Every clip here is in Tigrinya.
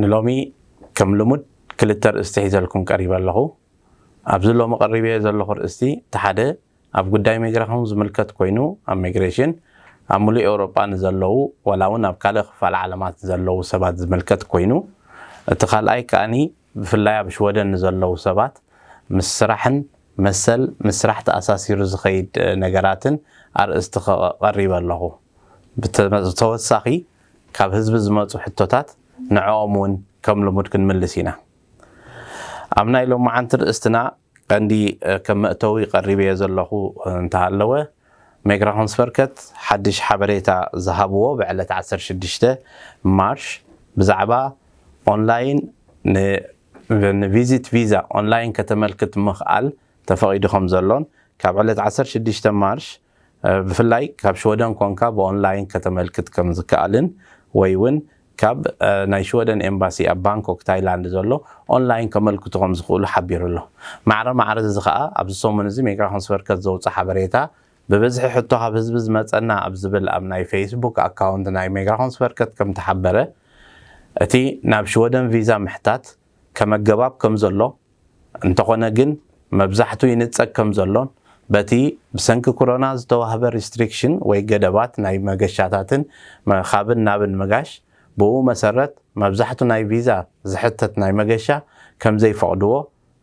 ንሎሚ ከም ልሙድ ክልተ ርእስቲ ሒዘልኩም ቀሪበ ኣለኹ። ኣብዚ ሎሚ ቀሪበዮ ዘለኹ ርእስቲ እቲ ሓደ ኣብ ጉዳይ ሚግራኹን ዝምልከት ኮይኑ ኣብ ሚግሬሽን ኣብ ምሉእ ኤውሮጳ ንዘለዉ ዋላ ውን ኣብ ካልእ ክፋል ዓለማት ንዘለዉ ሰባት ዝምልከት ኮይኑ እቲ ካልኣይ ከኣ ብፍላይ ኣብ ሽወደን ንዘለዉ ሰባት ምስ ስራሕን መሰል ምስ ስራሕ ተኣሳሲሩ ዝኸይድ ነገራትን ኣርእስቲ ቀሪበ ኣለኹ። ብተወሳኺ ካብ ህዝቢ ዝመጹ ሕቶታት ንዕኦም ውን ከም ልሙድ ክንምልስ ኢና። ኣብ ናይ ሎምዓንቲ ርእስትና ቀንዲ ከም መእተዊ ቀሪበዮ ዘለኹ እንተሃለወ ሜግራሆንስቨርከት ሓድሽ ሓበሬታ ዝሃብዎ ብዕለት ዓሰርተ ሽዱሽተ ማርች ብዛዕባ ኦንላይን ን ቪዚት ቪዛ ኦንላይን ከተመልክት ምኽኣል ተፈቒዱ ከም ዘሎን ካብ ዕለት ዓሰርተ ሽዱሽተ ማርች ብፍላይ ካብ ሽወደን ኮንካ ብኦንላይን ከተመልክት ከም ዝከኣልን ወይ ውን ካብ ናይ ሽወደን ኤምባሲ ኣብ ባንኮክ ታይላንድ ዘሎ ኦንላይን ከመልክቱ ከም ዝኽእሉ ሓቢሩ ኣሎ። ማዕረ ማዕረ እዚ ከኣ ኣብዚ ሰሙን እዚ ሚግራሾንስቨርከት ዘውጽኣ ሓበሬታ ብብዝሒ ሕቶ ካብ ህዝቢ ዝመጸና ኣብ ዝብል ኣብ ናይ ፈይስቡክ ኣካውንት ናይ ሚግራሾንስቨርከት ከም ተሓበረ እቲ ናብ ሽወደን ቪዛ ምሕታት ከመገባብ ከም ዘሎ፣ እንተኾነ ግን መብዛሕቱ ይንጸግ ከም ዘሎን በቲ ብሰንኪ ኩሮና ዝተዋህበ ሪስትሪክሽን ወይ ገደባት ናይ መገሻታትን ካብን ናብን ምጋሽ ብኡ መሰረት መብዛሕቱ ናይ ቪዛ ዝሕተት ናይ መገሻ ከም ዘይፈቕድዎ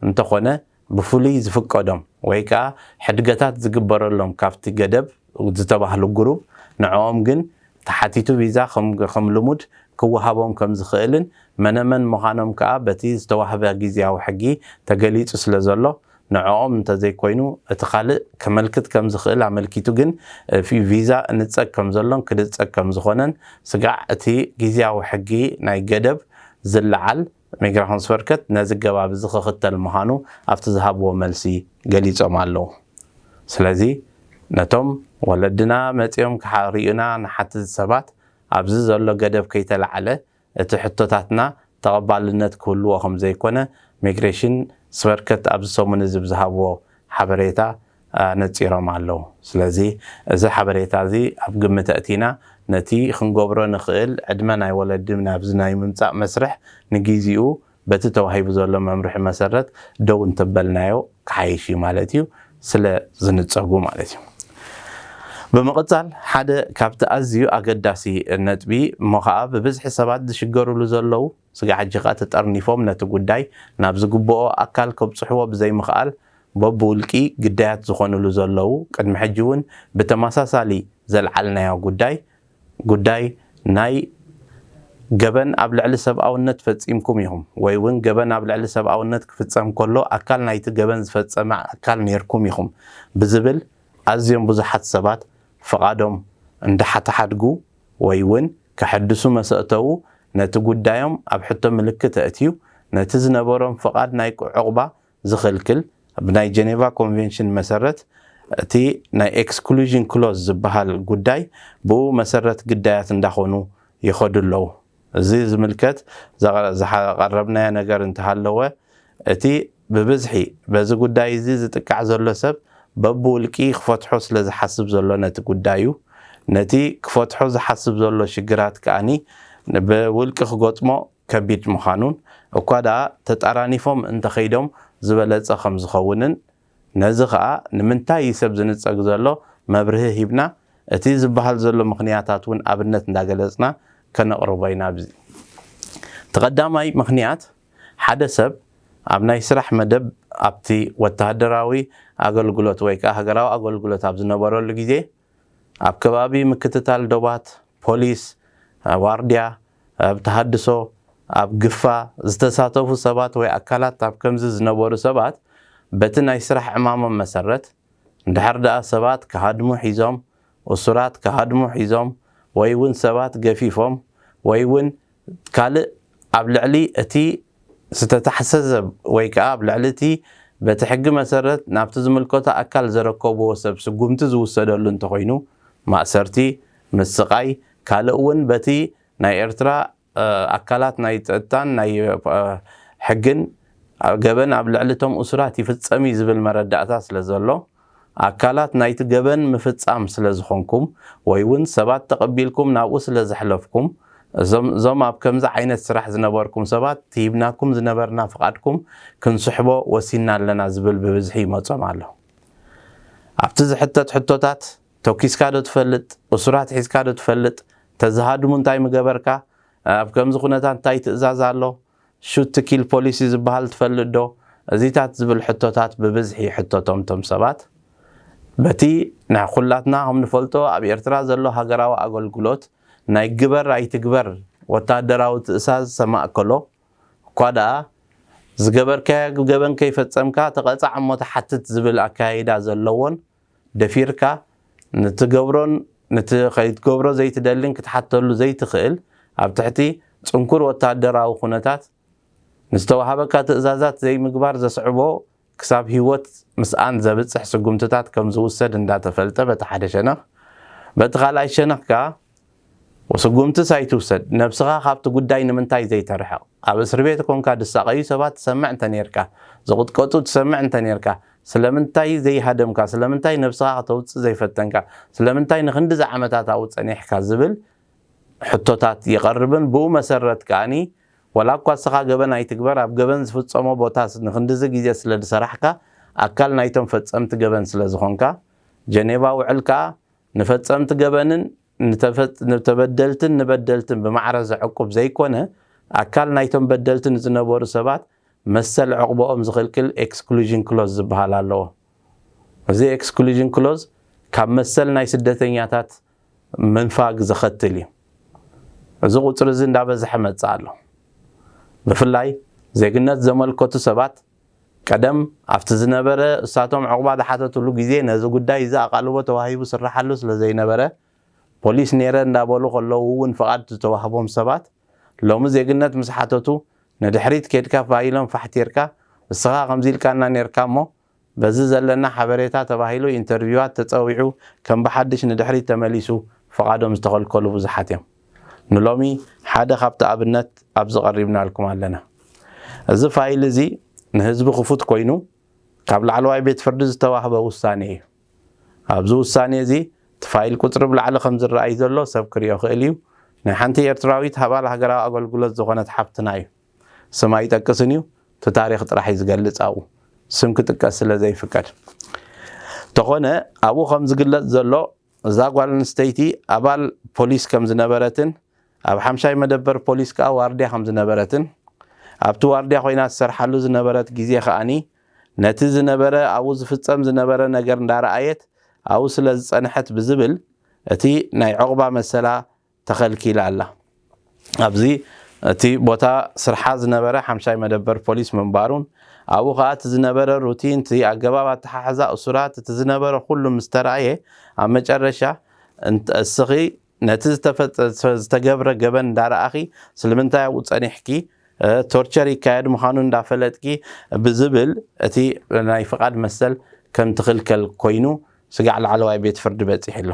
እንተኾነ ብፍሉይ ዝፍቀዶም ወይ ከኣ ሕድገታት ዝግበረሎም ካብቲ ገደብ ዝተባህሉ ግሩብ ንዕኦም ግን ተሓቲቱ ቪዛ ከም ልሙድ ክወሃቦም ከም ዝኽእልን መነመን ምዃኖም ከኣ በቲ ዝተዋህበ ግዝያዊ ሕጊ ተገሊጹ ስለ ዘሎ ንዕኦም እንተዘይኮይኑ እቲ ካልእ ከመልክት ከም ዝኽእል ኣመልኪቱ ግን ቪዛ እንጸግ ከም ዘሎን ክድጸግ ከም ዝኾነን ስጋዕ እቲ ግዝያዊ ሕጊ ናይ ገደብ ዝለዓል ሚግራሆንስቨርከት ነዚ ገባብ እዚ ክኽተል ምዃኑ ኣብቲ ዝሃብዎ መልሲ ገሊጾም ኣለዉ። ስለዚ ነቶም ወለድና መጺኦም ክሪኡና ንሓትት ሰባት ኣብዚ ዘሎ ገደብ ከይተላዕለ እቲ ሕቶታትና ተቐባልነት ክህልዎ ከምዘይኮነ ሚግሬሽንስቨርከት ኣብዚ ሰሙን እዚ ብዝሃብዎ ሓበሬታ ኣነጺሮም ኣለዉ። ስለዚ እዚ ሓበሬታ እዚ ኣብ ግምት ኣእቲና ነቲ ክንገብሮ ንኽእል ዕድመ ናይ ወለዲ ናብዚ ናይ ምምጻእ መስርሕ ንጊዚኡ በቲ ተዋሂቡ ዘሎ መምርሒ መሰረት ደው እንተበልናዮ ክሓይሽ እዩ ማለት እዩ ስለ ዝንጸጉ ማለት እዩ። ብምቕጻል ሓደ ካብቲ ኣዝዩ ኣገዳሲ ነጥቢ እሞ ከኣ ብብዝሒ ሰባት ዝሽገርሉ ዘለዉ፣ ስጋዕ ሕጂ ከኣ ተጠርኒፎም ነቲ ጉዳይ ናብ ዝግብኦ ኣካል ከብጽሕዎ ብዘይምኽኣል በብውልቂ ግዳያት ዝኾንሉ ዘለዉ ቅድሚ ሕጂ ውን ብተመሳሳሊ ዘልዓልናዮ ጉዳይ ጉዳይ ናይ ገበን ኣብ ልዕሊ ሰብኣውነት ፈጺምኩም ኢኹም ወይ ውን ገበን ኣብ ልዕሊ ሰብኣውነት ክፍጸም ከሎ ኣካል ናይቲ ገበን ዝፈጸመ ኣካል ኔርኩም ኢኹም ብዝብል ኣዝዮም ብዙሓት ሰባት ፍቓዶም እንዳሓተሓድጉ ወይ ውን ከሐድሱ መሰእተዉ ነቲ ጉዳዮም ኣብ ሕቶ ምልክት ኣእትዩ ነቲ ዝነበሮም ፍቓድ ናይ ዑቕባ ዝኽልክል ብናይ ጀኔቫ ኮንቬንሽን መሰረት እቲ ናይ ኤክስክሉዥን ክሎዝ ዝብሃል ጉዳይ ብኡ መሰረት ግዳያት እንዳኾኑ ይኸዱ ኣለዉ። እዚ ዝምልከት ዘቐረብናዮ ነገር እንተሃለወ እቲ ብብዝሒ በዚ ጉዳይ እዚ ዝጥቃዕ ዘሎ ሰብ በብውልቂ ክፈትሖ ስለ ዝሓስብ ዘሎ ነቲ ጉዳዩ ነቲ ክፈትሖ ዝሓስብ ዘሎ ሽግራት ከኣ ብውልቂ ክገጥሞ ከቢድ ምዃኑን እኳ ደኣ ተጣራኒፎም እንተኸይዶም ዝበለጸ ከም ዝኸውንን ነዚ ከኣ ንምንታይ እዪ ሰብ ዝንጸግ ዘሎ መብርሂ ሂብና እቲ ዝበሃል ዘሎ ምኽንያታት ውን ኣብነት እንዳገለጽና ከነቕርቦ ኢና ኣብዚ እቲ ቀዳማይ ምኽንያት ሓደ ሰብ ኣብ ናይ ስራሕ መደብ ኣብቲ ወተሃደራዊ ኣገልግሎት ወይ ከኣ ሃገራዊ ኣገልግሎት ኣብ ዝነበረሉ ግዜ ኣብ ከባቢ ምክትታል ዶባት፣ ፖሊስ፣ ዋርድያ፣ ኣብ ተሃድሶ፣ ኣብ ግፋ፣ ዝተሳተፉ ሰባት ወይ ኣካላት ኣብ ከምዚ ዝነበሩ ሰባት በቲ ናይ ስራሕ ዕማሞም መሰረት፣ እንድሕር ደኣ ሰባት ክሃድሙ ሒዞም፣ እሱራት ክሃድሙ ሒዞም፣ ወይ እውን ሰባት ገፊፎም ወይ እውን ካልእ ኣብ ልዕሊ እቲ ዝተታሕሰ ሰብ ወይ ከኣ ኣብ ልዕሊ እቲ በቲ ሕጊ መሰረት ናብቲ ዝምልከቶ ኣካል ዘረከቡዎ ሰብ ስጉምቲ ዝውሰደሉ እንተኾይኑ ማእሰርቲ፣ ምስቓይ፣ ካልእ እውን በቲ ናይ ኤርትራ ኣካላት ናይ ጸጥታን ናይ ሕግን ገበን ኣብ ልዕሊ እቶም እሱራት ይፍጸም እዩ ዝብል መረዳእታ ስለዘሎ፣ ኣካላት ናይቲ ገበን ምፍጻም ስለ ዝኾንኩም ወይ ውን ሰባት ተቐቢልኩም ናብኡ ስለ ዘሕለፍኩም እዞም እዞም ኣብ ከምዚ ዓይነት ስራሕ ዝነበርኩም ሰባት ሂብናኩም ዝነበርና ፍቓድኩም ክንስሕቦ ወሲንና ኣለና ዝብል ብብዝሒ ይመጾም ኣሎ። ኣብቲ ዝሕተት ሕቶታት ቶኪስካ ዶ ትፈልጥ? እሱራት ሒዝካ ዶ ትፈልጥ? እንተዝሃድሙ እንታይ ምገበርካ? ኣብ ከምዚ ኩነታት እንታይ ትእዛዝ ኣሎ? Shoot to Kill Policy ዝበሃል ትፈልጥ ዶ? እዚታት ዝብል ሕቶታት ብብዝሒ ይሕተቶም እቶም ሰባት። በቲ ናይ ኹላትና ከም ንፈልጦ ኣብ ኤርትራ ዘሎ ሃገራዊ ኣገልግሎት ናይ ግበር ኣይትግበር ወተሃደራዊ ትእሳዝ ዝተማእከሎ፣ እኳ ደኣ ዝገበርካዮ ገበን ከይፈጸምካ ተቐጻዕ እሞ ተሓትት ዝብል ኣከያይዳ ዘለዎን ደፊርካ ንትገብሮን ንቲ ከይትገብሮ ዘይትደልን ክትሓተሉ ዘይትኽእል ኣብ ትሕቲ ጽንኩር ወተሃደራዊ ኩነታት ንዝተወሃበካ ትእዛዛት ዘይምግባር ዘስዕቦ ክሳብ ሂወት ምስኣን ዘብጽሕ ስጉምትታት ከምዝውሰድ እንዳተፈልጠ በቲ ሓደ ሸነኽ በቲ ካልኣይ ሸነኽ ከኣ ወስጉምትስ ኣይትውሰድ ነብስኻ ካብቲ ጉዳይ ንምንታይ ዘይተርሕቅ ኣብ እስርቤት ኮንካ ድሳቀዩ ሰባት ትሰምዕ እንተኔርካ ዝቅጥቀጡ ትሰምዕ እንተኔርካ ስለምንታይ ዘይሃደምካ ስለምንታይ ነብስኻ ከተውጽእ ዘይፈተንካ ስለምንታይ ንክንድዚ ዓመታት ኣብኡ ጸኒሕካ ዝብል ሕቶታት ይቀርብን ብኡ መሰረት ከኣ ወላኳ እስኻ ገበን ኣይትግበር ኣብ ገበን ዝፍጸሞ ቦታ ንክንድዚ ግዜ ስለድሰራሕካ ኣካል ናይቶም ፈጸምቲ ገበን ስለዝኾንካ ጀኔቫ ውዕል ከኣ ንፈጸምቲ ገበንን ንተበደልትን ንበደልትን ብማዕረ ዘዕቁብ ዘይኮነ፣ ኣካል ናይቶም በደልቲ ንዝነበሩ ሰባት መሰል ዑቕባኦም ዝኽልክል ኤክስክሉዥን ክሎዝ ዝበሃል ኣለዎ። እዚ ኤክስክሉዥን ክሎዝ ካብ መሰል ናይ ስደተኛታት ምንፋግ ዘኸትል እዩ። እዚ ቁጽሪ እዚ እንዳበዝሐ መጸ ኣሎ። ብፍላይ ዜግነት ዘመልከቱ ሰባት ቀደም ኣብቲ ዝነበረ እሳቶም ዑቕባ ዝሓተትሉ ግዜ ነዚ ጉዳይ እዚ ኣቓልቦ ተዋሂቡ ዝስራሓሉ ስለ ዘይነበረ ፖሊስ ኔረ እንዳበሉ ከለዉ እውን ፍቓድ ዝተዋህቦም ሰባት ሎሚ ዜግነት ምስ ሓተቱ ንድሕሪት ኬድካ ፋእ ኢሎም ፋሕቲርካ እስኻ ከምዚ ኢልካና ኔርካ እሞ በዚ ዘለና ሓበሬታ ተባሂሉ ኢንተርቪዋት ተጸዊዑ ከም ብሓድሽ ንድሕሪት ተመሊሱ ፍቓዶም ዝተኸልከሉ ብዙሓት እዮም። ንሎሚ ሓደ ካብቲ ኣብነት ኣብዚ ቀሪብናልኩም ኣለና። እዚ ፋይል እዚ ንህዝቢ ክፉት ኮይኑ ካብ ላዕለዋይ ቤት ፍርዲ ዝተዋህበ ውሳኔ እዩ። ኣብዚ ውሳኔ እዚ እቲ ፋይል ቁጽሪ ብላዕሊ ከም ዝረኣይ ዘሎ ሰብ ክሪኦ ክእል እዩ። ናይ ሓንቲ ኤርትራዊት ኣባል ሃገራዊ ኣገልግሎት ዝኾነት ሓብትና እዩ። ስም ኣይጠቅስን እዩ እቲ ታሪኽ ጥራሕ እዩ ዝገልጽ ኣብኡ ስም ክጥቀስ ስለ ዘይፍቀድ። ተኾነ ኣብኡ ከም ዝግለጽ ዘሎ እዛ ጓል ኣንስተይቲ ኣባል ፖሊስ ከም ዝነበረትን ኣብ ሓምሻይ መደበር ፖሊስ ከኣ ዋርድያ ከም ዝነበረትን ኣብቲ ዋርድያ ኮይና ትሰርሓሉ ዝነበረት ግዜ ከኣ ነቲ ዝነበረ ኣብኡ ዝፍጸም ዝነበረ ነገር እንዳረኣየት ኣብኡ ስለ ዝጸንሐት ብዝብል እቲ ናይ ዑቕባ መሰላ ተኸልኪላ ኣላ። ኣብዚ እቲ ቦታ ስርሓ ዝነበረ ሓምሻይ መደበር ፖሊስ ምንባሩን ኣብኡ ከኣ እቲ ዝነበረ ሩቲን እቲ ኣገባብ ኣተሓሕዛ እሱራት እቲ ዝነበረ ኩሉ ምስ ተራእየ ኣብ መጨረሻ እስኺ ነቲ ዝተገብረ ገበን እንዳረኣኺ ስልምንታይ ኣብኡ ጸኒሕኪ ቶርቸር ይካየድ ምዃኑ እንዳፈለጥኪ ብዝብል እቲ ናይ ፍቓድ መሰል ከም ትኽልከል ኮይኑ ስጋዕ ላዕለዋይ ቤት ፍርዲ በጺሑ ኣሎ።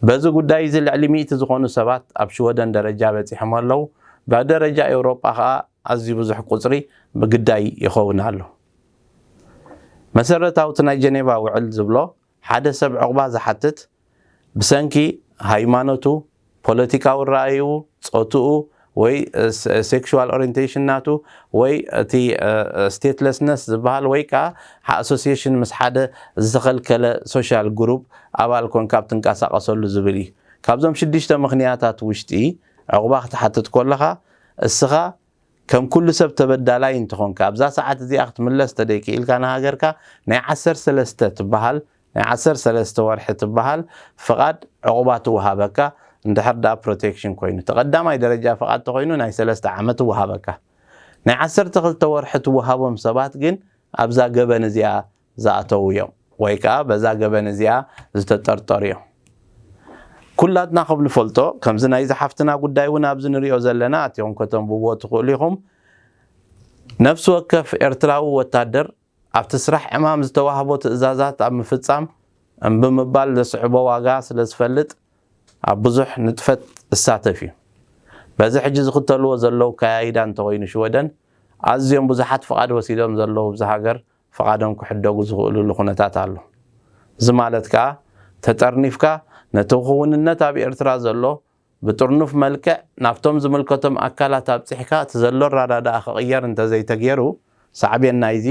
በዚ ጉዳይ'ዚ ልዕሊ ሚእቲ ዝኾኑ ሰባት ኣብ ሽወደን ደረጃ በጺሖም ኣለዉ፣ ብደረጃ ኤውሮጳ ከኣ ኣዝዩ ብዙሕ ቁጽሪ ብግዳይ ይኸውን ኣሎ። መሰረታዊ እቲ ናይ ጀኔቫ ውዕል ዝብሎ ሓደ ሰብ ዑቕባ ዝሓትት ብሰንኪ ሃይማኖቱ፣ ፖለቲካዊ ራእይኡ፣ ጾትኡ ወይ ሴክሹዋል ኦሪንቴሽን ናቱ ወይ እቲ ስቴትለስነስ ዝበሃል ወይ ከኣ ኣሶሴሽን ምስ ሓደ ዝተኸልከለ ሶሻል ግሩፕ ኣባል ኮንካ ኣብ ትንቀሳቐሰሉ ዝብል እዩ። ካብዞም ሽዱሽተ ምኽንያታት ውሽጢ ዑቕባ ክትሓትት ኮለኻ እስኻ ከም ኩሉ ሰብ ተበዳላይ እንተኾንካ ኣብዛ ሰዓት እዚኣ ክትምለስ ተደይክኢልካ ንሃገርካ ናይ ዓሰርተ ሰለስተ ትበሃል ናይ ዓሰርተ ሰለስተ ወርሒ ትበሃል ፍቓድ ዑቕባ ትወሃበካ እንድሕር ድኣ ፕሮቴክሽን ኮይኑ እቲ ቀዳማይ ደረጃ ፍቓድ ተኾይኑ ናይ ሰለስተ ዓመት ይወሃበካ ናይ ዓሰርተ ክልተ ወርሒ ትወሃቦም ሰባት ግን ኣብዛ ገበን እዚኣ ዝኣተዉ እዮም ወይ ከኣ በዛ ገበን እዚኣ ዝተጠርጠሩ እዮም። ኩላትና ከም ንፈልጦ ከምዚ ናይዛ ሓፍትና ጉዳይ እውን ኣብዚ ንሪኦ ዘለና ኣቲኹም ከተንብብዎ ትኽእሉ ኢኹም ነፍሲ ወከፍ ኤርትራዊ ወታደር ኣብቲ ስራሕ ዕማም ዝተዋህቦ ትእዛዛት ኣብ ምፍጻም እምቢ ምባል ዘስዕቦ ዋጋ ስለ ዝፈልጥ ኣብ ብዙሕ ንጥፈት እሳተፍ እዩ። በዚ ሕጂ ዝኽተልዎ ዘለዉ ኣከያይዳ እንተኾይኑ ሽወደን ኣዝዮም ብዙሓት ፍቓድ ወሲዶም ዘለዉ እብዚ ሃገር ፍቓዶም ክሕደጉ ዝኽእሉሉ ኩነታት ኣሎ። እዚ ማለት ከኣ ተጠርኒፍካ ነቲ ክውንነት ኣብ ኤርትራ ዘሎ ብጥርኑፍ መልክዕ ናብቶም ዝምልከቶም ኣካላት ኣብጺሕካ እቲ ዘሎ ኣራዳድኣ ክቕየር እንተዘይተጌሩ ሳዕቤን ናይዚ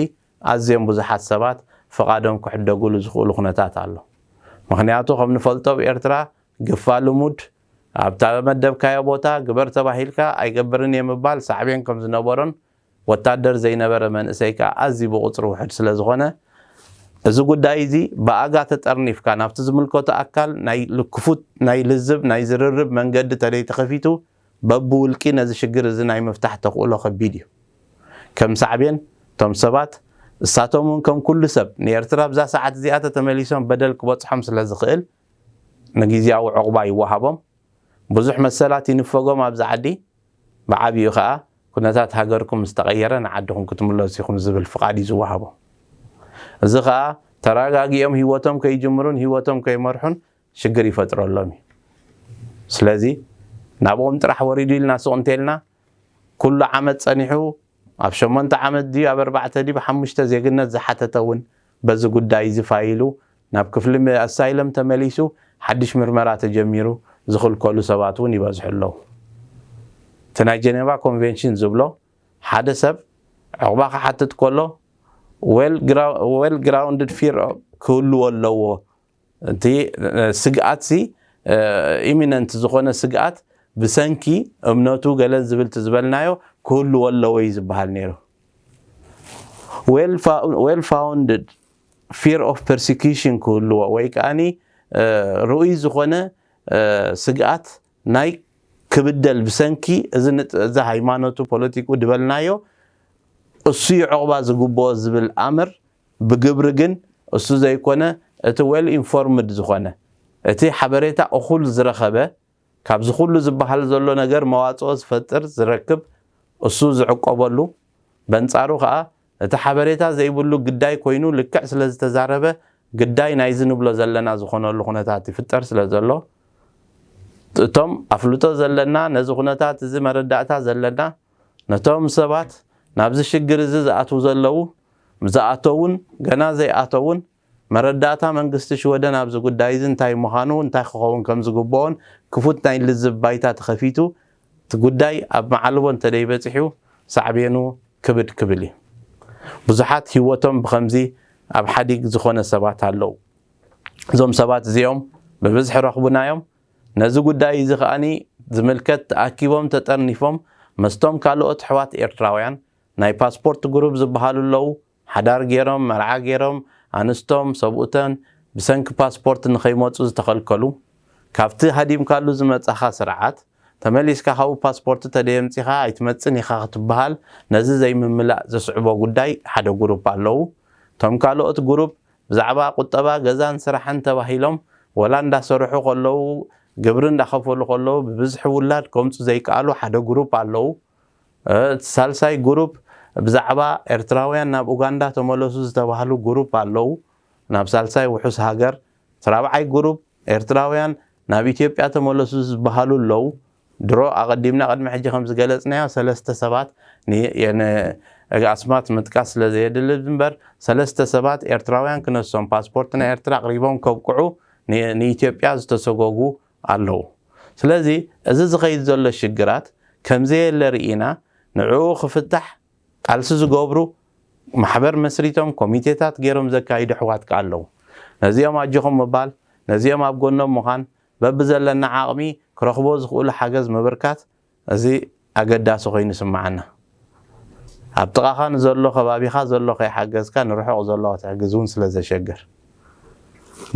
ኣዝዮም ብዙሓት ሰባት ፍቓዶም ክሕደጉሉ ዝኽእሉ ኩነታት ኣሎ። ምኽንያቱ ከም ንፈልጦ ኣብ ኤርትራ ግፋ ልሙድ ኣብ እተመደብካዮ ቦታ ግበር ተባሂልካ ኣይገብርን እየ ምባል ሳዕቤን ከም ዝነበሮን ወታደር ዘይነበረ መንእሰይ ከኣ ኣዝዩ ብቑጽሪ ውሑድ ስለ ዝኾነ፣ እዚ ጉዳይ'ዚ ብኣጋ ተጠርኒፍካ ናብቲ ዝምልከቶ ኣካል ናይ ክፉት ናይ ልዝብ ናይ ዝርርብ መንገዲ ተደይተኸፊቱ በብውልቂ ነዚ ሽግር እዚ ናይ ምፍታሕ ተኽእሎ ከቢድ እዩ። ከም ሳዕቤን እቶም ሰባት እሳቶም'ውን ከም ኩሉ ሰብ ንኤርትራ ኣብዛ ሰዓት እዚኣ ተተመሊሶም በደል ክበጽሖም ስለ ዝኽእል ንግዝያዊ ዑቕባ ይወሃቦም፣ ብዙሕ መሰላት ይንፈጎም ኣብዚ ዓዲ። ብዓቢኡ ከኣ ኩነታት ሃገርኩም ምስ ተቐየረ ንዓድኹም ክትምለሱ ኢኹም ዝብል ፍቓድ እዩ ዝወሃቦም። እዚ ከኣ ተረጋጊኦም ህይወቶም ከይጅምሩን ህይወቶም ከይመርሑን ሽግር ይፈጥረሎም እዩ። ስለዚ ናብኦም ጥራሕ ወሪዱ ኢልና ሱቕ እንተይልና ኩሉ ዓመት ጸኒሑ ኣብ ሸሞንተ ዓመት ድዩ ኣብ ኣርባዕተ ድዩ ሓሙሽተ ዜግነት ዝሓተተ እውን በዚ ጉዳይ'ዚ ፋይሉ ናብ ክፍሊ ኣሳይለም ተመሊሱ ሓድሽ ምርመራ ተጀሚሩ ዝኽልከሉ ሰባት'ውን ይበዝሑ ኣለዉ። እቲ ናይ ጀነቫ ኮንቬንሽን ዝብሎ ሓደ ሰብ ዑቕባ ክሓትት ከሎ ዌል ግራውንድድ ፊር ክህልዎ ኣለዎ እቲ ስግኣትሲ ኢሚነንት ዝኾነ ስግኣት ብሰንኪ እምነቱ ገለ ዝብል እቲ ዝበልናዮ ክህልዎ ኣለዎ እዩ ዝበሃል ነይሩ። ዌል ፋውንድድ ፊር ኦፍ ፐርሲኪሽን ክህልዎ ወይ ከኣኒ ርኡይ ዝኾነ ስግኣት ናይ ክብደል ብሰንኪ እዚ ሃይማኖቱ ፖለቲክኡ ድበልናዮ እሱዩ ዑቕባ ዝግብኦ ዝብል ኣምር ብግብሪ ግን እሱ ዘይኮነ እቲ ዌል ኢንፎርምድ ዝኾነ፣ እቲ ሓበሬታ እኹል ዝረኸበ፣ ካብዚ ኩሉ ዝበሃል ዘሎ ነገር መዋጽኦ ዝፈጥር ዝረክብ እሱ ዝዕቆበሉ፣ በንጻሩ ከኣ እቲ ሓበሬታ ዘይብሉ ግዳይ ኮይኑ ልክዕ ስለ ዝተዛረበ ግዳይ ናይዚ ንብሎ ዘለና ዝኾነሉ ኩነታት ይፍጠር ስለ ዘሎ እቶም ኣፍልጦ ዘለና ነዚ ኩነታት እዚ መረዳእታ ዘለና ነቶም ሰባት ናብዚ ሽግር እዚ ዝኣትዉ ዘለዉ፣ ምስ ዝኣተዉን ገና ዘይኣተዉን፣ መረዳእታ መንግስቲ ሽወደን ኣብዚ ጉዳይ እዚ እንታይ ምዃኑ፣ እንታይ ክኸውን ከም ዝግብኦን ክፉት ናይ ልዝብ ባይታ ተኸፊቱ እቲ ጉዳይ ኣብ መዓልቦ እንተደይበጺሑ ሳዕቤኑ ክብድ ክብል እዩ። ብዙሓት ህይወቶም ብኸምዚ ኣብ ሓዲግ ዝኾነ ሰባት ኣለዉ። እዞም ሰባት እዚኦም ብብዝሒ ረኽቡና እዮም። ነዚ ጉዳይ እዚ ከኣ ዝምልከት ተኣኪቦም ተጠርኒፎም መስቶም ካሎኦት ኣሕዋት ኤርትራውያን ናይ ፓስፖርት ጉሩብ ዝብሃሉ ኣለው ሓዳር ጌሮም መርዓ ጌሮም ኣንስቶም ሰብኡተን ብሰንኪ ፓስፖርት ንከይመጹ ዝተከልከሉ ካብቲ ሃዲምካሉ ዝመጻካ ስርዓት ተመሊስካ ካብኡ ፓስፖርት ተደየምጺካ ኣይትመጽን ኢካ ክትብሃል ነዚ ዘይምምላእ ዘስዕቦ ጉዳይ ሓደ ጉሩፕ ኣለው እቶም ካሎኦት ጉሩፕ ብዛዕባ ቁጠባ ገዛን ስራሕን ተባሂሎም ወላ እንዳሰርሑ ከለዉ ግብሪ እንዳኸፈሉ ከለዉ ብብዝሒ ውላድ ከምጹ ዘይከኣሉ ሓደ ጉሩፕ ኣለዉ። እቲ ሳልሳይ ጉሩፕ ብዛዕባ ኤርትራውያን ናብ ኡጋንዳ ተመለሱ ዝተባህሉ ጉሩፕ ኣለዉ ናብ ሳልሳይ ውሑስ ሃገር። እቲ ራብዓይ ጉሩፕ ኤርትራውያን ናብ ኢትዮጵያ ተመለሱ ዝበሃሉ ኣለዉ። ድሮ ኣቐዲምና ቅድሚ ሕጂ ከም ዝገለጽናዮ ሰለስተ ሰባት ን ኣስማት ምጥቃስ ስለ ዘየድሊ እምበር ሰለስተ ሰባት ኤርትራውያን ክነሶም ፓስፖርት ናይ ኤርትራ ኣቕሪቦም ከብቅዑ ንኢትዮጵያ ዝተሰጎጉ ኣለዉ ስለዚ እዚ ዝኸይድ ዘሎ ሽግራት ከም ዘየለ ርኢና ንዕኡ ክፍታሕ ቃልሲ ዝገብሩ ማሕበር መስሪቶም ኮሚቴታት ጌሮም ዘካይዱ ኣሕዋት ከኣ ኣለዉ ነዚኦም ኣጆኹም ምባል ነዚኦም ኣብ ጎኖም ምዃን በብዘለና ዓቕሚ ክረኽቦ ዝኽእሉ ሓገዝ ምብርካት እዚ ኣገዳሲ ኮይኑ ይስምዓና። ኣብ ጥቓኻ ንዘሎ ከባቢኻ ዘሎ ከይሓገዝካ ንርሑቕ ዘሎ ክትሕግዝ እውን ስለ ዘሸግር።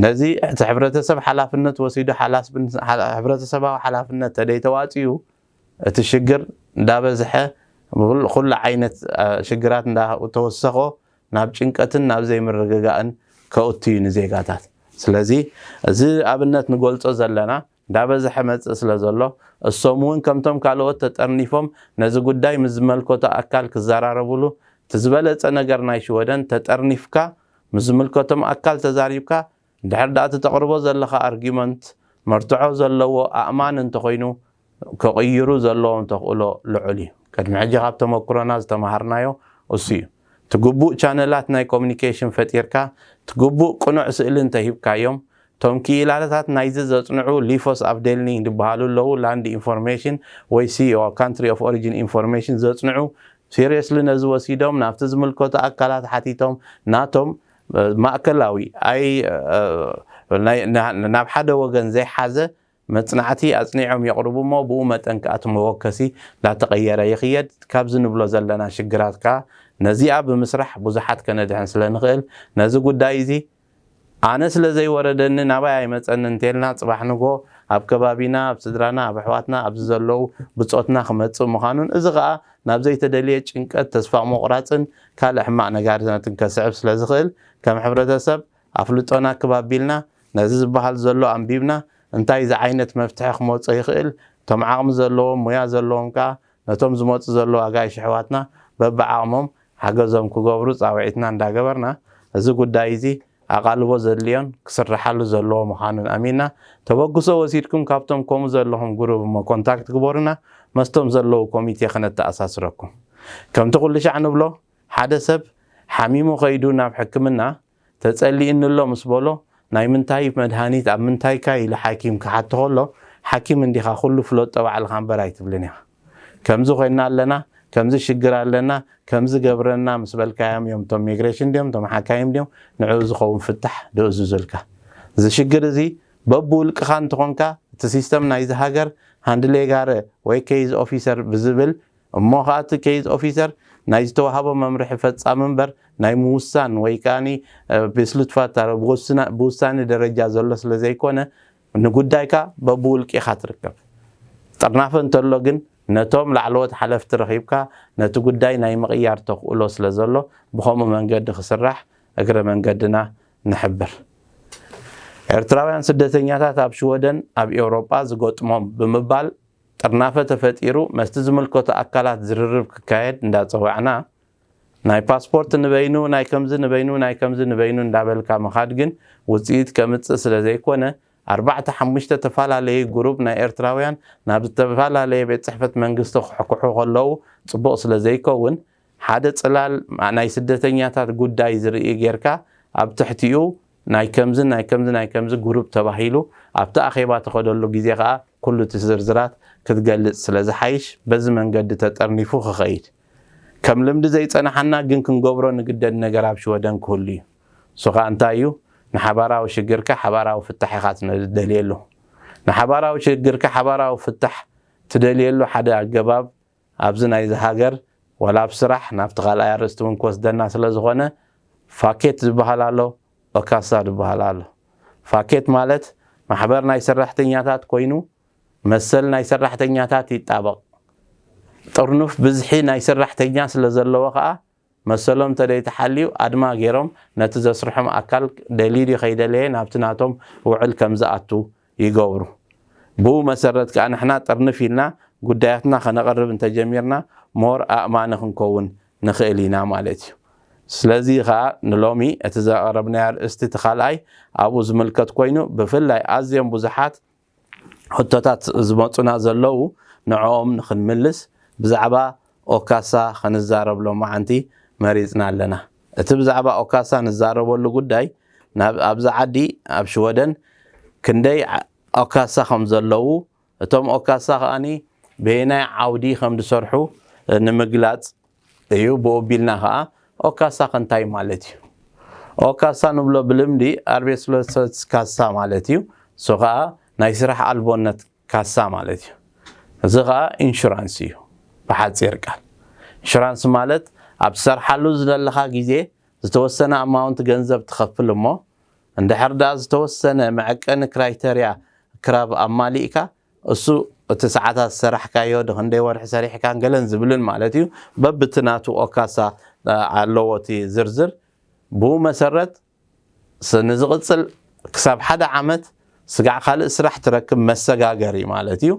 ነዚ እቲ ሕብረተሰብ ሓላፍነት ወሲዱ ሕብረተሰባዊ ሓላፍነት ተደይተዋጺኡ እቲ ሽግር እንዳበዝሐ ኩሉ ዓይነት ሽግራት እንዳተወሰኾ ናብ ጭንቀትን ናብ ዘይምርግጋእን ከእቱ እዩ ንዜጋታት። ስለዚ እዚ ኣብነት ንገልጾ ዘለና እንዳበዝሐ መጽእ ስለ ዘሎ እሶም እውን ከምቶም ካልኦት ተጠርኒፎም ነዚ ጉዳይ ምስ ዝመልከቶ ኣካል ክዘራረብሉ እቲ ዝበለጸ ነገር ናይ ሽወደን ተጠርኒፍካ ምስ ዝምልከቶም ኣካል ተዛሪብካ እንድሕር ድኣ እቲ ተቕርቦ ዘለኻ ኣርጊመንት መርትዖ ዘለዎ ኣእማኒ እንተኾይኑ ክቕይሩ ዘለዎም ተኽእሎ ልዑል እዩ። ቅድሚ ሕጂ ካብ ተመኩሮና ዝተመሃርናዮ እሱ እዩ። እቲ ግቡእ ቻነላት ናይ ኮሙኒኬሽን ፈጢርካ እቲ ግቡእ ቅኑዕ ስእሊ እንተሂብካዮም እቶም ክኢላታት ናይዚ ዘጽንዑ ሊፎስ ኣቭዴልኒንግ ድበሃሉ ኣለዉ ላንድ ኢንፎርሜሽን ወይ ሲኦኣ፣ ካንትሪ ኦፍ ኦሪጂን ኢንፎርሜሽን፣ ዘጽንዑ ሲርየስሊ ነዚ ወሲዶም ናብቲ ዝምልከቶ ኣካላት ሓቲቶም ናቶም ማእከላዊ ኣይ ናብ ሓደ ወገን ዘይሓዘ መጽናዕቲ ኣጽኒዖም የቕርቡ እሞ ብኡ መጠን ከኣ እቲ መወከሲ እንዳተቐየረ ይኽየድ። ካብዚ ንብሎ ዘለና ሽግራት ከኣ ነዚኣ ብምስራሕ ብዙሓት ከነድሕን ስለ ንኽእል ነዚ ጉዳይ እዚ ኣነ ስለ ዘይወረደኒ ናባይ ኣይመጸንን እንተልና ጽባሕ ንግሆ ኣብ ከባቢና ኣብ ስድራና ኣብ ኣሕዋትና ኣብዚ ዘለዉ ብጾትና ክመጽእ ምዃኑን እዚ ከኣ ናብ ዘይተደልየ ጭንቀት፣ ተስፋ ምቑራጽን ካልእ ሕማቕ ነጋሪታትን ከስዕብ ስለ ዝኽእል፣ ከም ሕብረተሰብ ኣፍልጦና ክብ ኣቢልና፣ ነዚ ዝበሃል ዘሎ ኣንቢብና፣ እንታይ ዝዓይነት መፍትሒ ክመጾ ይኽእል፣ እቶም ዓቕሚ ዘለዎም፣ ሙያ ዘለዎም ከኣ ነቶም ዝመጹ ዘለዉ ኣጋይሽ ኣሕዋትና በብዓቕሞም ሓገዞም ክገብሩ ጻውዒትና እንዳገበርና፣ እዚ ጉዳይ'ዚ፣ ኣቓልቦ ዘድልዮን ክስርሓሉ ዘለዎ ምዃኑን ኣሚና ተበግሶ ወሲድኩም ካብቶም ኮሙ ዘለኹም ጉሩብ እሞ ኮንታክት ግበሩና መስቶም ዘለዉ ኮሚቴ ክነተኣሳስረኩም ከምቲ ኩሉሻዕ ንብሎ ሓደ ሰብ ሓሚሙ ከይዱ ናብ ሕክምና ተጸሊኡኒ ኣሎ ምስ በሎ ናይ ምንታይ መድሃኒት ኣብ ምንታይካ ኢሉ ሓኪም ክሓቶ ከሎ ሓኪም እንዲኻ ኩሉ ፍለጦ ባዕልኻ እምበር ኣይትብልን ኢኻ። ከምዚ ኮይና ኣለና ከምዚ ሽግር ኣለና ከምዚ ገብረና ምስ በልካዮም እዮም እቶም ሚግሬሽን ድዮም እቶም ሓካይም ድዮም ንዕኡ ዝኸውን ፍታሕ ደእዙዙልካ እዚ ሽግር እዚ በብውልቅኻ እንተኾንካ እቲ ሲስተም ናይዚ ሃገር ሃንድሌ ጋረ ወይ ኬይዝ ኦፊሰር ብዝብል እሞ ኸዓ እቲ ኬይዝ ኦፊሰር ናይ ዝተዋሃቦ መምርሒ ፈፃሚ እምበር ናይ ምውሳን ወይ ከዓኒ ቤስሉትፋታረ ብውሳኒ ደረጃ ዘሎ ስለ ዘይኮነ ንጉዳይካ በብውልቂኻ ትርከብ ጥርናፈ እንተሎ ግን ነቶም ላዕለዎት ሓለፍቲ ረኺብካ ነቲ ጉዳይ ናይ ምቕያር ተኽእሎ ስለዘሎ ብኸምኡ መንገዲ ክስራሕ እግረ መንገድና ንሕብር። ኤርትራውያን ስደተኛታት ኣብ ሽወደን ኣብ ኤውሮጳ ዝገጥሞም ብምባል ጥርናፈ ተፈጢሩ መስቲ ዝምልከቶ ኣካላት ዝርርብ ክካየድ እንዳጸዋዕና ናይ ፓስፖርት ንበይኑ ናይ ከምዚ ንበይኑ ናይ ከምዚ ንበይኑ እንዳበልካ ምኻድ ግን ውጽኢት ከምጽእ ስለዘይኮነ ኣርባዕተ ሓሙሽተ ተፋላለዪ ጉሩብ ናይ ኤርትራውያን ናብ ዝተፋላለየ ቤት ጽሕፈት መንግስቲ ክሕኩሑ ከለዉ ጽቡቕ ስለዘይከውን ሓደ ጽላል ናይ ስደተኛታት ጉዳይ ዝርኢ ጌርካ ኣብ ትሕቲኡ ናይ ከምዚ ናይ ከምዚ ናይ ከምዚ ጉሩብ ተባሂሉ ኣብቲ ኣኼባ ትኸደሉ ግዜ ከኣ ኩሉ እቲ ዝርዝራት ክትገልጽ ስለዝሓይሽ በዚ መንገዲ ተጠርኒፉ ክኸይድ ከም ልምዲ ዘይጸንሓና ግን ክንገብሮ ንግደድ ነገር ኣብ ሽወደን ክህሉ እዩ። እሱ ከኣ እንታይ እዩ? ንሓባራዊ ሽግርካ ሓባራዊ ፍታሕ ኢኻ ትደልየሉ። ንሓባራዊ ሽግርካ ሓባራዊ ፍታሕ ትደልየሉ ሓደ ኣገባብ ኣብዚ ናይዚ ሃገር ዋላ ኣብ ስራሕ ናብቲ ካልኣይ ኣርእስቲ እውን ክወስደና ስለ ዝኾነ ፋኬት ዝበሃል ኣሎ ኦካሳ ዝበሃል ኣሎ። ፋኬት ማለት ማሕበር ናይ ሰራሕተኛታት ኮይኑ መሰል ናይ ሰራሕተኛታት ይጣበቕ። ጥርኑፍ ብዝሒ ናይ ስራሕተኛ ስለዘለዎ ከኣ መሰሎም ተደይተሓልዩ ኣድማ ገይሮም ነቲ ዘስርሖም ኣካል ደልዩ ድዩ ከይደለየ ናብቲ ናቶም ውዕል ከምዝኣቱ ይገብሩ። ብኡ መሰረት ከኣ ንሕና ጥርንፍ ኢልና ጉዳያትና ከነቕርብ እንተጀሚርና ሞር ኣእማኒ ክንከውን ንኽእል ኢና ማለት እዩ። ስለዚ ከኣ ንሎሚ እቲ ዘቕረብናዮ ኣርእስቲ እቲ ካልኣይ ኣብኡ ዝምልከት ኮይኑ ብፍላይ ኣዝዮም ብዙሓት ሕቶታት ዝመጹና ዘለዉ ንዕኦም ንኽንምልስ ብዛዕባ ኦካሳ ኽንዛረብ ሎማዓንቲ መሪጽና ኣለና። እቲ ብዛዕባ ኦካሳ ንዛረበሉ ጉዳይ ናብ ኣብዚ ዓዲ ኣብ ሽወደን ክንደይ ኦካሳ ኸም ዘለዉ እቶም ኦካሳ ኸኣ በየናይ ዓውዲ ኸም ዝሰርሑ ንምግላጽ እዩ ብኡ ቢልና ከኣ ኦካሳ ከ እንታይ ማለት እዩ ኦካሳ ንብሎ ብልምዲ ኣርቤስሎሰስ ካሳ ማለት እዩ እሱ ከኣ ናይ ስራሕ ኣልቦነት ካሳ ማለት እዩ እዚ ከኣ ኢንሹራንስ እዩ ብሓጺር ቃል ኢንሹራንስ ማለት ኣብ ትሰርሓሉ ዝደለኻ ግዜ ዝተወሰነ ኣማውንት ገንዘብ ትኸፍል እሞ እንድሕር ደኣ ዝተወሰነ መዐቀኒ ክራይተርያ ክራብ ኣማሊእካ እሱ እቲ ሰዓታት ዝሰራሕካዮ ክንደይ ወርሒ ሰሪሕካን ገለን ዝብልን ማለት እዩ በብቲ ናቱ ኦካሳ ኣለዎ እቲ ዝርዝር ብኡ መሰረት ንዝቕፅል ክሳብ ሓደ ዓመት ስጋዕ ካልእ ስራሕ ትረክብ መሰጋገሪ ማለት እዩ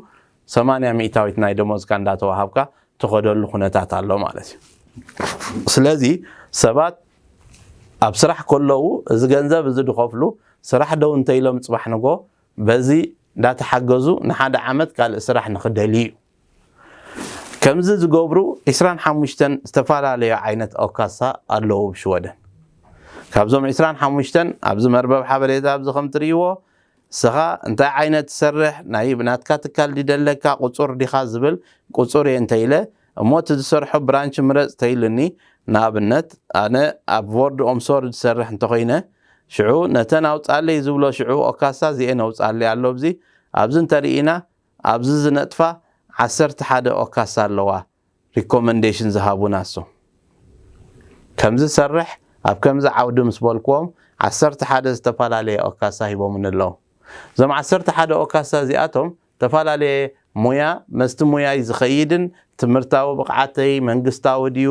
ሰማንያ ሚእታዊት ናይ ደሞዝካ እንዳተዋሃብካ ትኸደሉ ኩነታት ኣሎ ማለት እዩ ስለዚ ሰባት ኣብ ስራሕ ከለዉ እዚ ገንዘብ እዚ ድኸፍሉ ስራሕ ደው እንተኢሎም ፅባሕ ንጎ በዚ እንዳተሓገዙ ንሓደ ዓመት ካልእ ስራሕ ንክደልዩ እዩ። ከምዚ ዝገብሩ ዕስራን ሓሙሽተን ዝተፈላለዩ ዓይነት ኦካሳ ኣለዉ ኣብ ሽወደን። ካብዞም ዕስራን ሓሙሽተን ኣብዚ መርበብ ሓበሬታ ኣብዚ ከም ትርእይዎ ንስኻ እንታይ ዓይነት ትሰርሕ ናይ ብናትካ ትካል ድዩ ደለካ ቁጹር ዲኻ ዝብል ቁጹር እየ እንተኢለ እሞ እቲ ዝሰርሖ ብራንች ምረጽ ተይሉኒ ንኣብነት ኣነ ኣብ ቮርድ ኦምሶርድ ዝሰርሕ እንተኾይነ ሽዑ ነተን ኣውጻለይ ዝብሎ ሽዑ ኦካሳ እዚኤን ኣውጻለይ ኣሎ ኣብዚ ኣብዚ እንተሪኢና ኣብዚ ዝነጥፋ ዓሰርተ ሓደ ኦካሳ ኣለዋ ሪኮመንዴሽን ዝሃቡና እሶም ከምዚ ሰርሕ ኣብ ከምዚ ዓውዲ ምስ በልክዎም ዓሰርተ ሓደ ዝተፈላለየ ኦካሳ ሂቦምኒ ኣለዉ እዞም ዓሰርተ ሓደ ኦካሳ እዚኣቶም ተፈላለየ ሞያ መስቲ ሞያይ ዝኸይድን ትምህርታዊ ብቕዓተይ መንግስታዊ ድዩ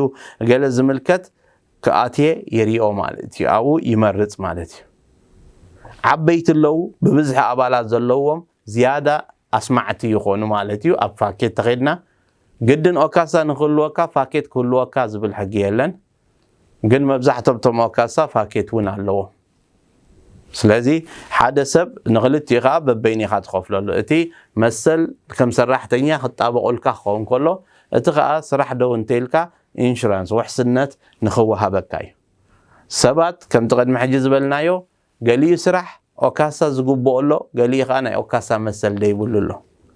ገለ ዝምልከት ክኣትየ ይሪኦ ማለት እዩ። ኣብኡ ይመርፅ ማለት እዩ። ዓበይቲ ኣለዉ ብብዝሒ ኣባላት ዘለዎም ዝያዳ ኣስማዕቲ ይኾኑ ማለት እዩ። ኣብ ፋኬት ተኸድና ግድን ኦካሳ ንክህልወካ ፋኬት ክህልወካ ዝብል ሕጊ የለን። ግን መብዛሕቶም እቶም ኣካሳ ፋኬት እውን ኣለዎም ስለዚ ሓደ ሰብ ንክልቲኡ ከዓ በበይኑ ኢኻ ትኸፍለሉ እቲ መሰል ከም ሰራሕተኛ ክጣበቁልካ ክኸውን ከሎ እቲ ከዓ ስራሕ ደው እንተኢልካ ኢንሹራንስ ውሕስነት ንክወሃበካ እዩ ሰባት ከምቲ ቅድሚ ሕጂ ዝበልናዮ ገሊኡ ስራሕ ኦካሳ ዝግብኦ ኣሎ፣ ገሊኡ ከኣ ናይ ኦካሳ መሰል ዘይብሉ ኣሎ።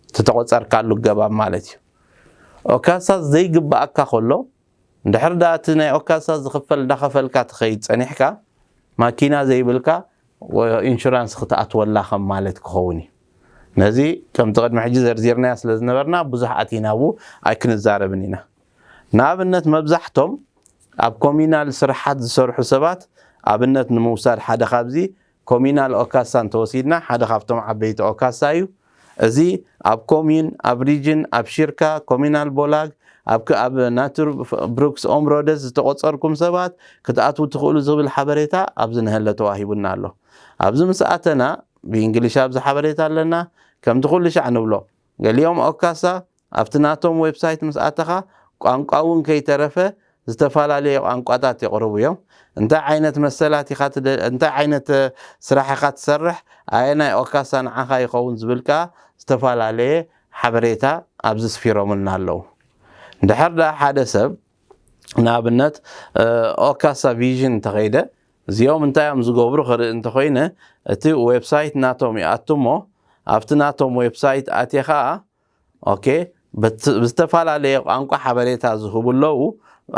እቲ ተቆጸርካሉ ኣገባብ ማለት እዩ። ኦካሳ ዘይግብኣካ ከሎ፣ እንድሕር ደኣ እቲ ናይ ኦካሳ ዝኽፈል እንዳኸፈልካ ትኸይድ ጸኒሕካ፣ ማኪና ዘይብልካ ኢንሹራንስ ክትኣትወላ ከም ማለት ክኸውን እዩ። ነዚ ከምቲ ቅድሚ ሕጂ ዘርዚርናዮ ስለ ዝነበርና ብዙሕ ኣቲና ኣብኡ ኣይክንዛረብን ኢና። ንኣብነት መብዛሕቶም ኣብ ኮሚናል ስርሓት ዝሰርሑ ሰባት ኣብነት ንምውሳድ ሓደ ካብዚ ኮሚናል ኦካሳ እንተወሲድና ሓደ ካብቶም ዓበይቲ ኦካሳ እዩ እዚ ኣብ ኮሚን ኣብ ሪጅን ኣብ ሺርካ ኮሚናል ቦላግ ኣብክ ኣብ ናቱር ብሩክስ ኦምሮደስ ዝተቆጸርኩም ሰባት ክትኣትዉ ትኽእሉ ዝብል ሓበሬታ ኣብዚ ንሀለ ተዋሂቡና ኣሎ ኣብዚ ምስ ኣተና ብእንግሊሽ ኣብዚ ሓበሬታ ኣለና ከምቲ ኩልሻዕ ንብሎ ገሊኦም ኦካሳ ኣብቲ ናቶም ዌብሳይት ምስ ኣተኻ ቋንቋ እውን ከይተረፈ ዝተፋላለየ ቋንቋታት የቕርቡ እዮም እንታይ ዓይነት መሰላት ኢኻ ትደሊ እንታይ ዓይነት ስራሕ ኢኻ ትሰርሕ ኣየናይ ኦካሳ ንዓኻ ይኸውን ዝብል ከኣ ዝተፋላለየ ሓበሬታ ኣብዚ ስፊሮምልና ኣለዉ እንድሕር ደኣ ሓደ ሰብ ንኣብነት ኦካሳ ቪዥን እንተኸይደ እዚኦም እንታይ እዮም ዝገብሩ ክርኢ እንተኾይነ እቲ ዌብሳይት ናቶም ይኣቱ እሞ ኣብቲ ናቶም ዌብሳይት ኣትየ ኸኣ ኦኬ ብዝተፈላለየ ቋንቋ ሓበሬታ ዝህቡ ኣለዉ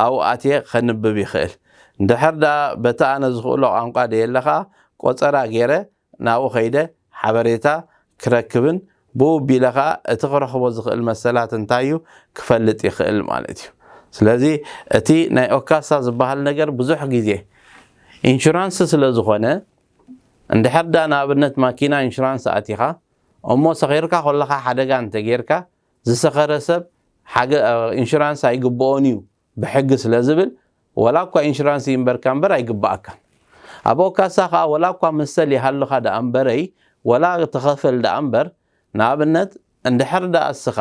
ኣብኡ ኣትየ ከንብብ ይኽእል እንድሕር ደኣ በቲ ኣነ ዝኽእሎ ቋንቋ ደየለ ኸኣ ቆጸራ ጌረ ናብኡ ከይደ ሓበሬታ ክረክብን ብኡ ቢለ ከኣ እቲ ክረኽቦ ዝኽእል መሰላት እንታይ እዩ ክፈልጥ ይኽእል ማለት እዩ። ስለዚ እቲ ናይ ኦካሳ ዝበሃል ነገር ብዙሕ ግዜ ኢንሹራንስ ስለ ዝኾነ እንድሕር ደኣ ንኣብነት ማኪና ኢንሹራንስ ኣእቲኻ እሞ ሰኺርካ ከለኻ ሓደጋ እንተጌርካ ዝሰኸረ ሰብ ሓገ ኢንሹራንስ ኣይግብኦን እዩ ብሕጊ ስለ ዝብል ወላ እኳ ኢንሹራንስ ይንበርካ እምበር ኣይግበኣካን። ኣበኦ ካሳ ከኣ ወላ እኳ መሰል ይሃልኻ ደኣ እምበረይ ወላ ተኸፈል ደኣ እምበር ንኣብነት እንድሕር ደኣ እስኻ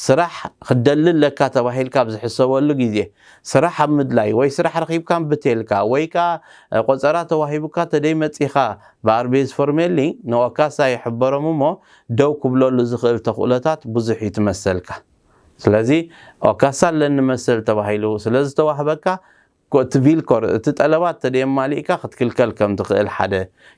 ስራሕ ክትደሊ ኣለካ ተባሂልካ ኣብ ዝሕሰበሉ ግዜ ስራሕ ኣብ ምድላይ ወይ ስራሕ ረኺብካ እምቢ ተልካ ወይ ከኣ ቆጸራ ተዋሂቡካ ተደይ መጺኻ ብኣርቤዝፎርሜሊ ንኦካሳ ይሕበሮም እሞ ደው ክብለሉ ዝኽእል ተኽእሎታት ብዙሕ እዩ ትመሰልካ። ስለዚ ኦካሳ ኣለኒ መሰል ተባሂሉ ስለ ዝተዋህበካ እቲ ቪልኮር እቲ ጠለባት ተደየማሊእካ ክትክልከል ከም ትኽእል ሓደ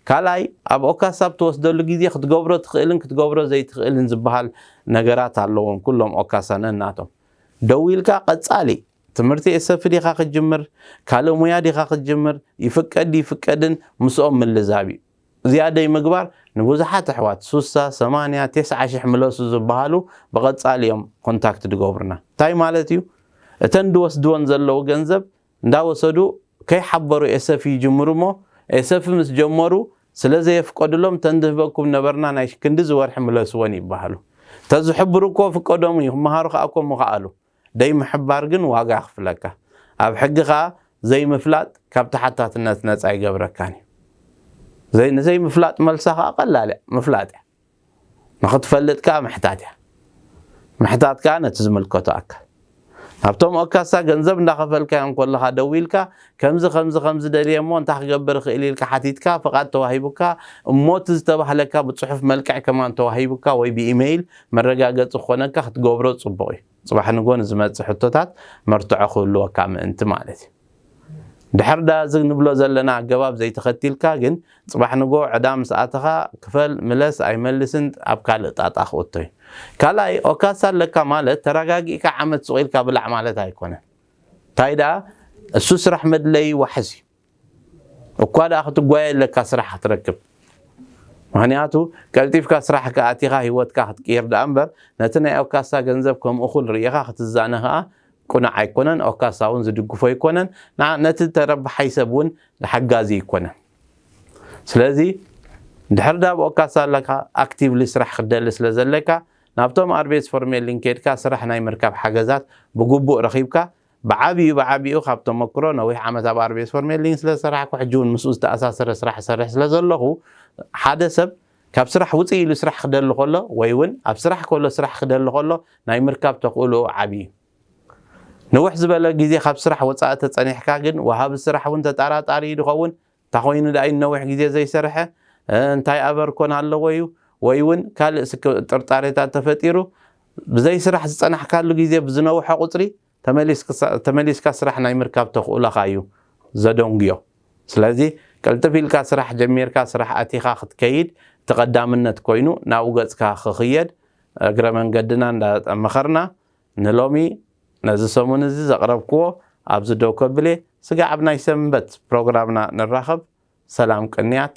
ካልኣይ ኣብ ኦካሳ ኣብ ትወስደሉ ግዜ ክትገብሮ ትኽእልን ክትገብሮ ዘይትኽእልን ዝበሃል ነገራት ኣለዎም ኩሎም ኦካሳ ነናቶም ደዊልካ ቀጻሊ ትምህርቲ ኤሰፊ ዲኻ ክትጅምር ካልእ ሙያ ዲኻ ክትጅምር ይፍቀድ ይፍቀድን ምስኦም ምልዛብ እዩ ዝያደይ ምግባር ንብዙሓት ኣሕዋት ሱሳ ሰማንያ ቴስዓ ሽሕ ምለሱ ዝብሃሉ ብቀጻሊ እዮም ኮንታክት ድገብሩና ታይ ማለት እዩ እተን ድወስድወን ዘለዉ ገንዘብ እንዳወሰዱ ከይሓበሩ ኤሰፍ ይጅምሩ እሞ ኤሰፍ ምስ ጀመሩ ስለ ዘየፍቀድሎም እተን ድህበኩም ነበርና ናይ ክንድዚ ወርሒ ምለስወን ይብሃሉ ተዝሕብሩ እኮ ፍቀዶም እዩ ክምሃሩ ከኣ እኮ ምኸኣሉ ደይምሕባር ግን ዋጋ የኽፍለካ። ኣብ ሕጊ ከኣ ዘይምፍላጥ ካብ ተሓታትነት ነጻ ኣይገብረካን እዩ። ንዘይምፍላጥ መልሳ ከኣ ቀላል እያ፣ ምፍላጥ እያ። ንኽትፈልጥ ከኣ ምሕታት እያ። ምሕታት ከኣ ነቲ ዝምልከቶ ኣካል። ናብቶም ኦካሳ ገንዘብ እንዳኸፈልካዮም ከለኻ ደዊልካ ከምዚ ከምዚ ከምዚ ደልየ እሞ እንታይ ክገብር እኽእል ኢልካ ሓቲትካ ፍቓድ ተዋሂቡካ እሞ እቲ ዝተባህለካ ብጽሑፍ መልክዕ ከማን ተዋሂቡካ ወይ ብኢመይል መረጋገጺ ክኾነካ ክትገብሮ ጽቡቕ እዩ። ጽባሕ ንግሆ ንዝመጽእ ሕቶታት መርትዖ ክህልወካ ምእንቲ ማለት እዩ። ድሕር ዳር እዚ ንብሎ ዘለና ኣገባብ ዘይተኸቲልካ ግን ጽባሕ ንግሆ ዕዳ ምስ ኣተኻ ክፈል ምለስ ኣይመልስን ኣብ ካልእ ጣጣ ክእቶ እዩ። ካልኣይ ኦካሳ ኣለካ ማለት ተራጋጊእካ ዓመት ሱቕ ኢልካ ብላዕ ማለት ኣይኮነን። ታይ ደኣ እሱ ስራሕ መድለይ ዋሕስ እዩ እኳ ደኣ ክትጓየ ኣለካ ስራሕ ክትረክብ ምክንያቱ ቀልጢፍካ ስራሕካ ኣቲካ ሂወትካ ክትቅይር ደኣ እምበር ነቲ ናይ ኦካሳ ገንዘብ ከም እኩል ሪኢካ ክትዛነ ከኣ ቁኑዕ ኣይኮነን ኦካሳ ውን ዝድግፎ ኣይኮነን ንዓ ነቲ ተረባሓይ ሰብ ውን ሓጋዚ ኣይኮነን ስለዚ ድሕር ደኣ ኣብ ኦካሳ ኣለካ ኣክቲቭሊ ስራሕ ክትደሊ ስለ ዘለካ ናብቶም ኣርቤትስፎርሜሊን ኬድካ ስራሕ ናይ ምርካብ ሓገዛት ብግቡእ ረኺብካ፣ ብዓቢኡ ብዓቢኡ ካብ ተመክሮ፣ ነዊሕ ዓመት ኣብ ኣርቤትስፎርሜሊን ስለ ዝሰራሕኩ፣ ሕጂ ውን ምስኡ ዝተኣሳሰረ ስራሕ እሰርሕ ስለ ዘለኹ፣ ሓደ ሰብ ካብ ስራሕ ውጽእ ኢሉ ስራሕ ክደሊ ከሎ ወይ ውን ኣብ ስራሕ ከሎ ስራሕ ክደሊ ከሎ ናይ ምርካብ ተኽእሎኡ ዓቢ እዩ። ንውሕ ዝበለ ግዜ ካብ ስራሕ ወጻኢ ተጸኒሕካ ግን፣ ወሃቢ ስራሕ ውን ተጣራጣሪ እዩ ዝኸውን፣ እንታኾይኑ ድኣ'ዩ ንነዊሕ ግዜ ዘይሰርሐ? እንታይ ኣበር ኮን ኣለዎ'ዩ? ወይ'ውን ካልእ ስክ ጥርጣሬታት ተፈጢሩ ብዘይ ስራሕ ዝጸናሕካሉ ግዜ ብዝነውሐ ቁጽሪ ተመሊስክሳ ተመሊስካ ስራሕ ናይ ምርካብ ተኽእሎኻ'ዩ ዘደንጉዮ። ስለዚ ቅልጥፍ ኢልካ ስራሕ ጀሚርካ ስራሕ ኣቲኻ ክትከይድ እቲ ቀዳምነት ኮይኑ ናብኡ ገጽካ ክኽየድ እግረ መንገድና እንዳመኸርና ንሎሚ ነዚ ሰሙን እዚ ዘቕረብክዎ ኣብዚ ደው ከብል'የ፣ ስጋዕ ኣብ ናይ ሰንበት ፕሮግራምና ንራኸብ፣ ሰላም ቅንያት።